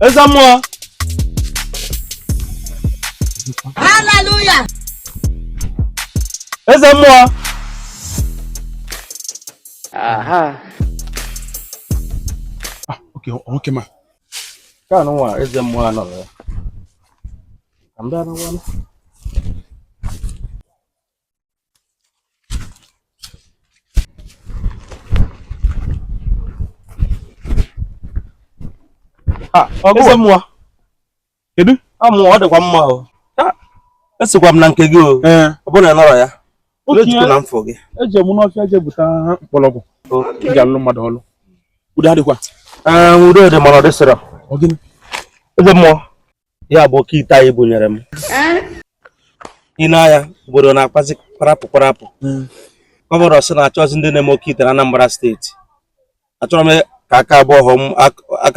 eze mmụọ haleluya eze mmụọ aha ah, oke nwoke ma ka anụ nwa eze mmụọ anọrọ ya ka m bịa n'ụwa Ah, eze mmụọ kedu mmụọ ah, ọ dịkwa mma o ah, esikwa m na nke gị o eh. ọ bụrụ na anọrọ ya ejikwa na mfọ gị eje m n'ọfịa je bute mkpọrọgwụ ị ga-alụ mmadụ ọlụ udo adịkwa udo dị mana ọ dịsịrọ eze mmụọ ya bụ oke ite a ị bunyere m ị na-anya obodo na-akpazi kparapụ kparapụ hmm. gọvanọ sị na achọzi ndị na-eme oke ite na Anambra steeti achọrọ m ka aka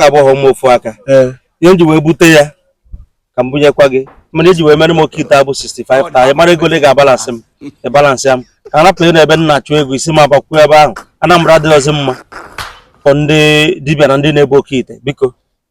abụọ m ofu aka eh. ihe m ji wee bute ya ka m bunyekwa gị mana eji wee mere m oke ite abụ 65 taa ị mara ego ole ị ga-abalansị m ị balansị ya m ka arapụ na ebe m na-achụ ego isi m abakwuo ebe ahụ Anambra adịghịzi mma for ndị dibịa na ndị na-ebu oke ite biko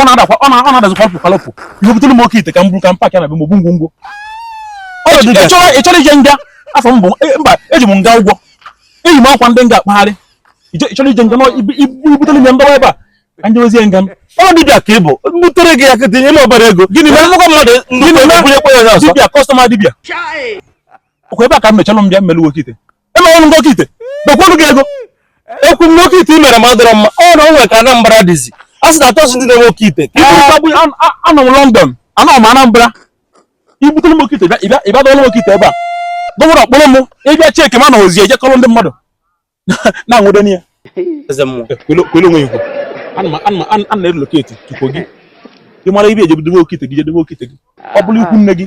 ọ na-adakwa ọ na-adazi kwalụpụ kwalụpụ ihe butere m oke ite ka m buru ka m paakị ya na be m ogbu ngwo ngwo ị chọrọ ije nga afọ m bụ e, mba eji m nga ụgwọ eyi m akwa ndị nga akpagharị ị chọrọ ije nga ibutere m ya ndọwa ebe a ka m jezie nga m ọ bụ dibịa ka ị bụ mbutere gị ya ka i tinye m obere ego gịnị mere nnukwu mmadụ nnukwu onye bunyekwa ya ọzọ dibịa kọstọma dibịa ọkwa ebe a ka m mechalụ m bịa melu m oke ite emere m oke ite dokwuru gị ego ekwu m na oke ite i mere m adịrọ mma ọ na o nwere ka Anambra dịzi a sị na achọzi ndị na-eme oke ite anọ m London anọ m Anambra ibutere m oke ite ị bịa dọọlụ m oke ite ebe a gọvanọ kpụrụ m ị bịa cheki ma na ozi ejekọrọ ndị mmadụ na-anwụde n'ihe kwele onwe ikwu ana na-relocate tupu gị ị mara ebe ị je-edobe oke ite gị je debe oke ite gị ọ bụrụ ikwu nne gị